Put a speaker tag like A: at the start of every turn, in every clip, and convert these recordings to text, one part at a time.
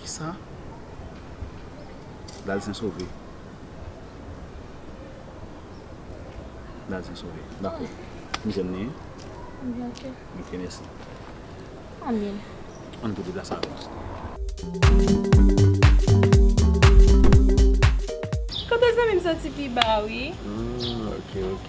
A: Kisa? Dal sen sove. Dal sen sove. Dako. M jwenn li wi. M byen ok.
B: M ok mèsi.
A: An
B: byen. An n
A: tou deplase avan.
C: Kote zanmi m soti pi ba wi. Hum ok ok.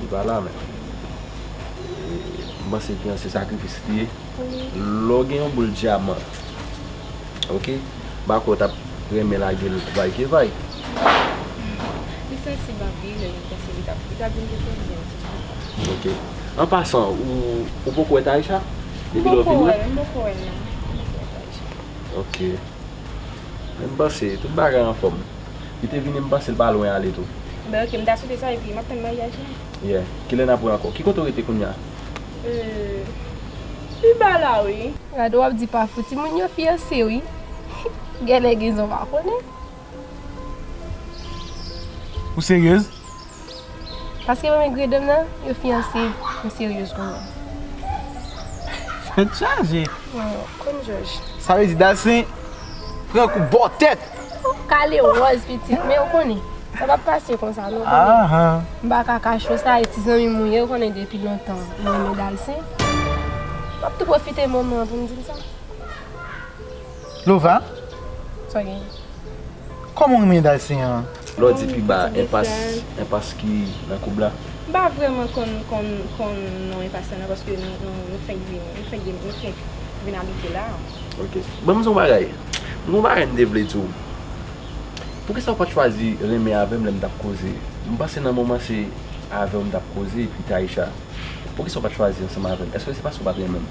C: Li pa la
D: menm. M panse ki an se sakrifis li ye. Lè w gen yon boul dyaman, ok, m pa kwè w t ap renmen lage l vay ke vay.
C: Li sansib anpil e m panse li t ap vin gen pwoblèm si m pa fè sa. Ok. An
D: pasan, ou poko wè Taïsha? M poko wè l, m poko wè l non. M poko wè Taïsha. Ok. Menm panse, tout bagay anfòm. Li te vini m panse l pa lwen ale tou. Ben ok m ta swete sa
C: epi map tann maryaj la. Yeah, kilè
D: nap wè ankò? Ki kote w rete kounya? Euhh
C: li ba la wi. Gadon wap di pa fouti moun yo fiyanse wi genlè gen zon pa konnen.
E: Ou seryez?
C: Paske mwen renmen gredom nan yo fiyanse m seryez pou mwen. Tèt
E: chaje. Konn jòj.
C: Sa vle di Dalcin
E: pran kou bò tèt. Ou kale
C: wòz pitit men ou konnen sa pap pase konsa non konnen. M pa ka
E: kache w
C: sa e ti zanmi m ou ye ou konnen depi lontan m renmen Dalcin. Map tou pwofite moman an pou m di l sa. Lova,
E: sa gen? Kòman w renmen Dalcin an? Lordi pi ba
D: enpas, enpas ki nan koub la. M pa vrèman
C: konn konn non enpas la nan paske nou fenk vini, nou fenk vini, nou fenk vin abite la a. Ok. Ban m di w yon
D: bagay, m gen yon bagay m te vle di w. Poukisa w pa t chwazi renmen avè m lè m t ap koze? M panse nan moman se avè w m t ap koze epi Taïsha. Poukisa w pa t chwazi ansanm avè m? Èske se paske w pa t renmen m?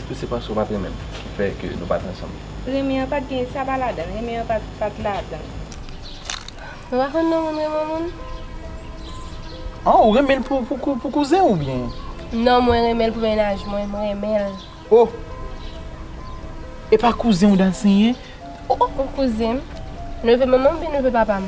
D: Si se paske ou pat renmen m ki fè ke nou pat ansanm. Renmen an pat gen
F: sa pa ladanl renmen an pat ladanl.
C: Mwen pa konn non moun renmen yon moun.
E: An ou renmenl pou kouzen ou byen. Non mwen renmenl
C: pou mennaj mwen m renmenl. Oh
E: epa kouzenw Dalsen ye oh. Ou
C: kouzenm, neve manmanm ou byen neve papam.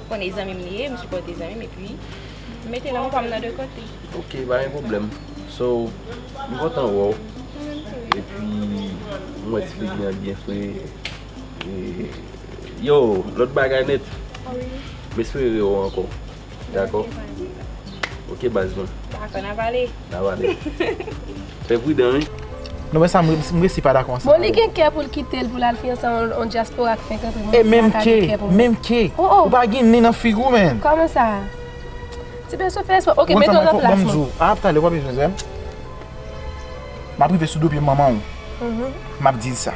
F: Konn e zanmim li ye m sipòte zanmim epi m mete lang pam nan de kote. Ok pa gen pwoblèm
D: so m kontan wè w epi m wè ti figi an byen fre yo lòt bagay nèt
F: m espere re
D: wè w ankò dakò ok baz mwen. Dakò
F: n ap ale.
D: Fè pridan wi. Non men sa
E: m resi pa dakò ansanm avèw. Bon li gen kè poul
C: kitel poul al fiyanse ak on dyaspora ki fenk antre mwen
E: menm sa ka gen kè pou mwen. MK ou pa gen nen nan figi w menn. Kòman sa?
C: Ti beso fè espò ok mete w nan plas mwen. Ap talè ou pa bezwen
E: zèm. Map rive sou do pye manman w. Map dil sa.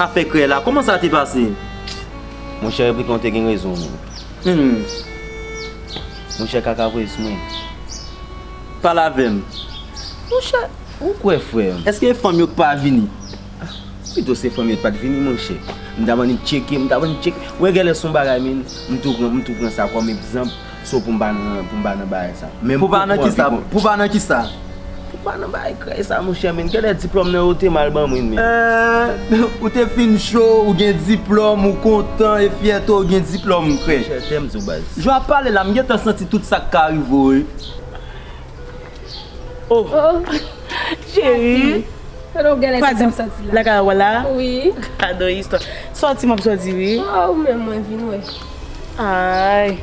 G: Afè krèy la, kouman sa te pase? Monchè
H: Replik lan te gen rezon li. Humm. Monchè Kakavwez mwen.
G: Pale avè m. Monchè,
H: ou kwè frè m. Èske e fanm yo k pa
G: vini? Pito
H: se fanm yo t pa t vini monchè. M t ap annik tcheke, m t ap annik tcheke. Wè gèlè s on bagay min. M tou pran sa kòm egzanp. So pou m pa nan, pou m pa nan bagay sa. Menm Pou pa nan ki
G: sa, pou pa nan ki sa? Pou m pa nan bagay
H: krèy sa monchè men, gen lè diplòm nan yo te mal ban mwen men. Eeh,
G: ou te fin cho, ou gen diplòm, ou kontan, e fyète w gen diplòm krèy. Monchè tè m zo baz. Jan w ap pale la, m gen tan santi tout sa k ka rive w wi.
I: Oh! Cheri! Kote w genlè santi w soti la? Lakay w la? Wi. Gadon
C: istwa.
I: Soti m ap soti wi. Oh, ou menm mwen vin
C: wè. Ayy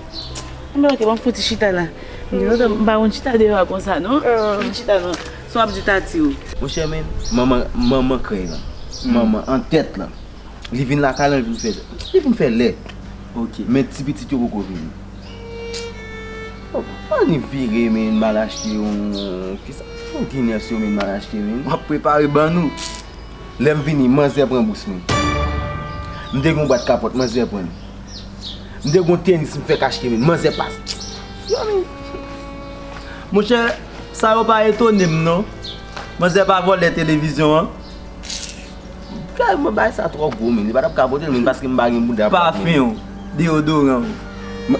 I: Anmwey ok map fouti chita la Gen lontan m pa konn chita deyò a konsa non Fout chita nan sa wap di Tati ou. Monchè men manman
H: manman krèy lan manman an tèt lan li vin lakay lan li vin fè li vin fè lèt ok men ti
G: pitit yo poko
H: vini oh annik vire men mal achte yon kisa pou ginen yo men mal achte men wap prepare ban nou Lè m vini, manzè pran bous mwen. M te gen yon bwat kapòt, manzè pran li. M te gen yon tenis m fèk achte men, manzè pa.
G: Monchè, sa yo pa etone m non. Manzè pa vòlè televizyon an.
H: Kay mwen bay sa twò gwo men, li pa t ap ka pote l menm paske m pa gen bouda. Pafen w,
G: deyodoran w.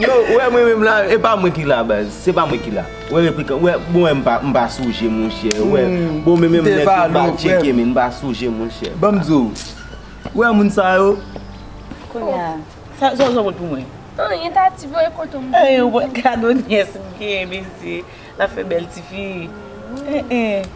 H: Yo, ou wè mwen menm la, e pa mwen ki la baz, se pa mwen ki la. Wè replikan wè bon wè m pa souje monchè wè bon men menm nèg yo pa tcheke men m pa souje monchè. Banm di w
G: wè
I: moun sa
G: yo. Kounye
I: a
G: sa w
I: jwenn pou
G: mwen.
C: Anyen Tati voye kote m. Anyen w pot kado
I: nyès m gen mesye l ap fè bèl tifi.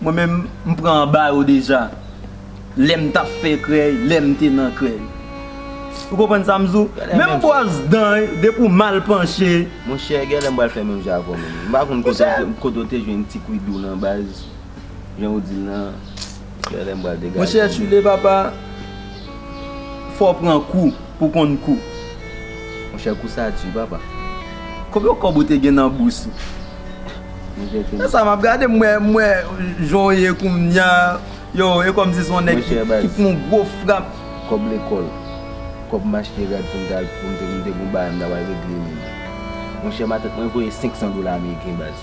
I: Mwen menm
G: m pran anba yo deja lèm tap fè krèy lèm te nan krèy ou konprann sam di w menm bwòs dan depi w mal panche monchè gèlè m
H: pral fè menm jan avè w menm m pa konn kote w te jwenn ti kwidou lan baz jan w di l lan gèlè m pral degaje monchè chile papa.
G: Fò w pran kou pou w konn kou. Monchè
H: kou sa di papa. Konbyen
G: kòb ou te gen nan bous ou? Monchè sa m ap gade m wè jan w ye kounya yow e kòmsi se yon nèg ki pran yon gwo frap. Kòb lekòl,
H: kòb machte rad pou m ta al pou m te gen yon bagay m ta pral regle menm. Monchè matant mwen voye 500 dola ameriken baz.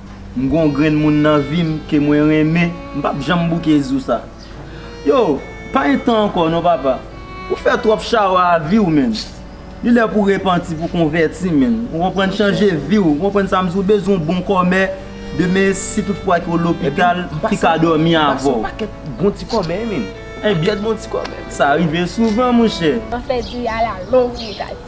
G: M gon grenn moun nan vim ke mwen renmen m pap janm bouke zou sa yo pa gen tan ankò non papa ou fè twòp chawa a viw menn li lè pou repanti pou konvèti menn ou konprann chanje viw ou konprann sa m di ou bezwen yon bon kòmè demen si tout fwa ke w lopital ki ka dòmi avèw m pase yon pakèt bon ti kòmè
H: menn yon pakèt bon ti kòmè sa rive souvan
G: monchè. Anfen di a la
C: long negati.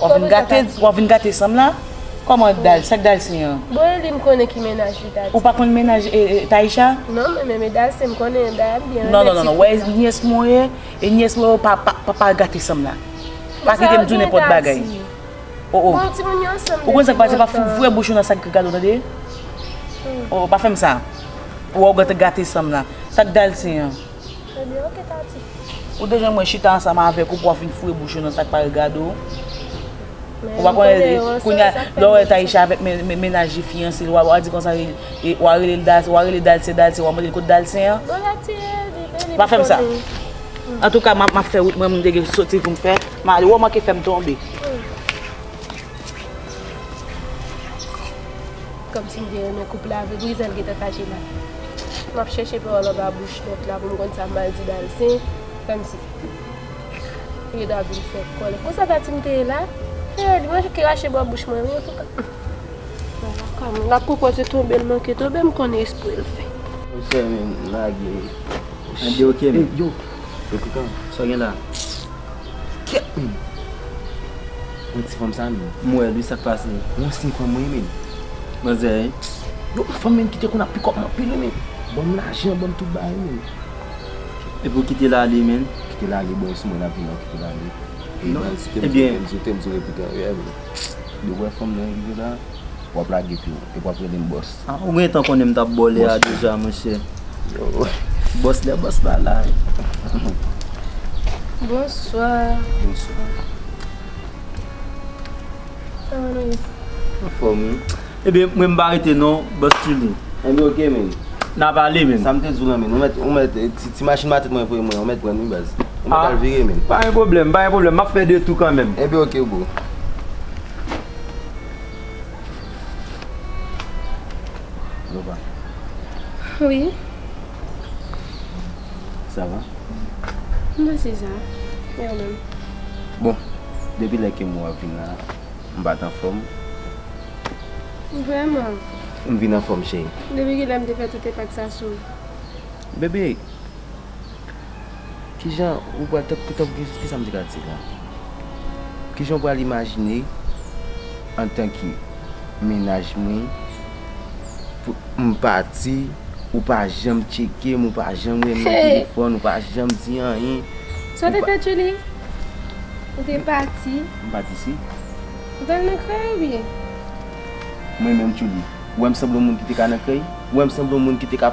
I: Wap vin gate, wap vin gate sanm la? Koman dal, sak dal sen an? Bon e li m konnen
C: ki menaj li tati. Ou pa konn menaj
I: Taïsha? Non mwen menm e dal
C: sen m konnen dayal m byen renmen ti fi sa. Non non non non, wè nyès
I: mwen ye, e nyès mwen yo pa gate sanm la. Pa kite m di w nenpòt bagay. O o. Bon ti moun yo ansanm depi lontan. Ou konn sak pase pa fouvre bouch ou nan sak gate w tande? O o pa fè m sa. Ou wè w gate sanm la. Sak dal sen an? Ebyen ok
C: Tati. Ou te janm wè chita
I: ansanm avèk ou pou wap vin foure bouch ou nan sak pa regade w? Ou pa konnen li, kounya lè w wè Taïsha avèk mennaj li fiyanse li wa di konsa wa rele l Dal, wa rele Dalcin Dalcin wa mande l kot Dalcin an? Bon la ti e li menm li pa konnen. Pa fè m sa. Antouka map fè wout mwen m te gen soti pou m fè, m'ale wè w manke fè m tonbe.
C: Komsi m te renmen koup la vre brizan t gentan fache la map chèche pawòl anba bouch lòt la pou m konn sa m pral di Dalcin kmsi yo ta vin fè kòlè konsa tati m te ye la hee li manke krache bò bouch mwen wi antouka wala kòman lap pwopoze tonbe l manke tonbe m konnen espre l fè. Ou fè m
H: lage. An di ok
G: men. Yo.
H: Depi kan? Sa w gen la
G: a? Kèt menm.
H: Mwen ti fanm sa menm. M wèl wi sak pase.
G: Ou ansyen kòm mwen
H: menm. Manzè
G: hein. Yo m
H: fanm menm kite konn ap pikòm anpil wi menm. Banm lajan banm tout bagay menm.
G: Epi ou kitel ale menm. Kitel ale bon sou mwen
H: lap vin nan kitel ale.
G: Ebyen. Zote'm sou repitan.
H: Dew wè fanm nan rive la. Wap lage piw. Epi wap relem bòs. Ah ou gentan konnen m
G: tap baw lè a deja monchè Boss lè boss la la wi
C: Bonswa Bonswa
H: Kòman
C: nou ye? Anfòm wi
G: Ebyen mwen m pa rete non Boss Tuly Anbyen ok
H: menn Nap ale menn
G: Sa m te diw lan menn ou
H: mèt ti machin matèt mwen voye mwen an ou mèt prann wi baz Ou mèt al vire menn Pa gen pwoblèm pa gen pwoblèm
G: map fè de tou kanmenm Ebyen ok bro.
H: Lova.
C: Wi.
H: Sa va? Mwen
C: se sa. E ou menm? Bon,
H: depi lè ke mwen ap vin la, m pa t anfòm.
C: Vrèman? M vin anfòm
H: cheri. Depi ki lè m te fè tout
C: enpak sa sou ou? Bebe!
H: Kijan ou pral, tank ki, kisa m te ka di la? Kijan ou pral imajine antan ke mennaj mwen pou m pati, ou pa janm tcheke m, ou pa janm rele m nan telefòn, ou pa janm di anyen. Sa w te fè
C: Julie? Ou te pati. M pa di si.
H: Ou t al nan
C: krèy ou byen?
H: Mwen menm Julie, ou wè m sanble yon moun ki te ka nan krèy? Ou wè m sanble yon moun ki te ka.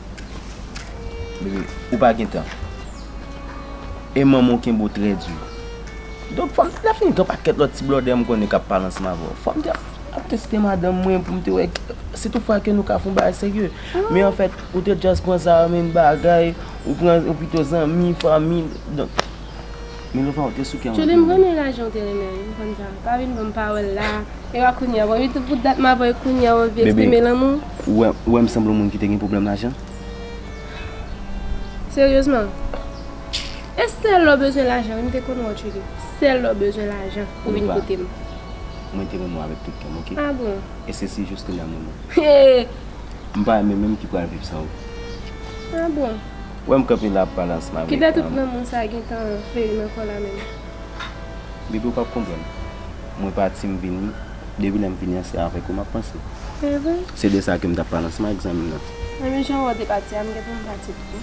H: Bebe, ou pa gen tan. E manman w kenbe w trè di. Donk fò m te ka fin gen yon pakèt lòt ti blòdè m konnen k ap pale ansanm avè w. Fò m te ap teste madanm mwen pou m te wè si tou fwa ke nou ka fè yon bagay serye. Men anfèt, ou te just pran sa kòm yon bagay, ou pran pito zanmi, fanmi. Milova ou te souke anpil wi. Tchouli m renmen lajan
C: ou
H: te
C: renmen wi konsa pa vin banm pa wèl la ewa kounya bon youtube pou dat map wè kounya ou anvi eksprime lanmou. Bebe ou wèm sanble
H: yon moun ki te gen pwoblèm lajan?
C: Seryezman e sèl lè ou bezwen lajan wi m te konn wè w tchouli sèl lè ou bezwen lajan ou vin kote m. Milova mwen te renmen
H: w avèk tout kèm ok e se si
C: jous kounya
H: m renmen w.
C: M pa renmen
H: menm ki pral viv san ou. A
C: bon. Wè m kanpe la
H: ap pale ansanm avèk. Kilè tout nan moun sa
C: gentan peri nan kò la menm.
H: Bebe ou pap konprann. Mwen pati m vini, depi lè m vini an se avèk ou map panse. Se vre? Se de sa ke m tap pale ansanm avèk zanmi m nan. Menm jan wè ou te pati
C: a m gen pou m pati tou.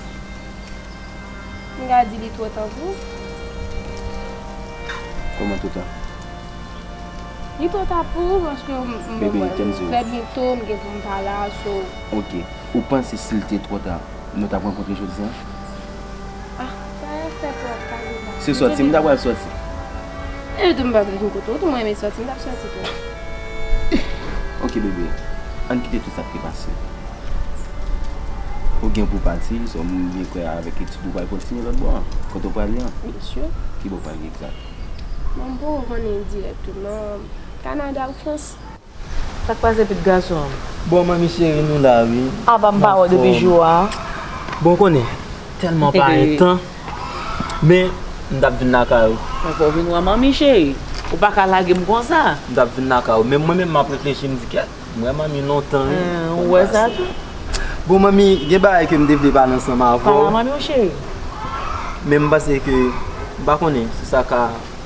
C: M ka di li twò tan pou ou.
H: Kòman twò tan?
C: Li twò ta pou ou paske m wè m trè
H: byento m gen pou m pa
C: la so. Ok. Ou
H: panse sil te tro ta nou tap rankontre jodian? Ah
C: sa yo fè twa ka de bagay. Se sòti m ta pral
H: sòti. Epi
C: tou m pa vin kote w tou m renmen sòti m tap sòti tou.
H: Ok bebe ann kite tout sa k te pase. Ou gen pou w pati sou m byen kwè a avèk etid ou pral kontinye lòt bò an kote w prale an. Byen si. Ki bò w
C: prale egzat?
H: Bon m poko
C: konnen dirèk tou non Kanada ou Frans. Sak pase
I: pit gason. Bon mwen mi cheri
G: nou la wi. Aba m pa wè w depi
I: jou a. Bon ou konnen
G: telman pa gen tan men m tap vin lakay ou. Mwen fè w vin wè man mi
I: cheri. Ou pa ka lage m konsa. M tap vin lakay ou men
G: mwen menm map reflechi m di kèt m wè man mi lontan wi. Ou wè sa tou.
I: Bon man
G: mi gen bagay ke m te vle pale ansanm avè w. Pale a man mi cheri.
I: Men
G: m panse ke m pa konnen si sa ka.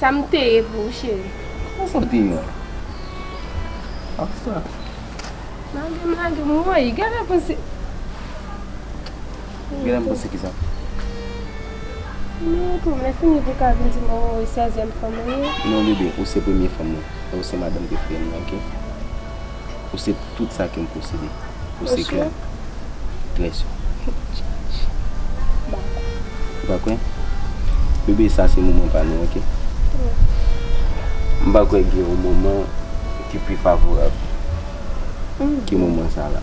C: Sa m te ye pou ou cheri. Kisa sa te ye
H: an? Ak
C: sa. Lage m lage m woy genlè panse.
H: Genlè m panse kisa? Mwen
C: tou mwen fini pou ka vin di m ou sezyèm fanm ou ye. Non bebe ou se
H: premye fanm mwen. E ou se madanm preferem nan ok. Ou se tout sa ke m posede. Ou se kè m. Très sûr. Ou pa kwè? Bebe sa se moman pa nou ok. M pa kwè gen yon moman ki pi favorab ke moman sa la.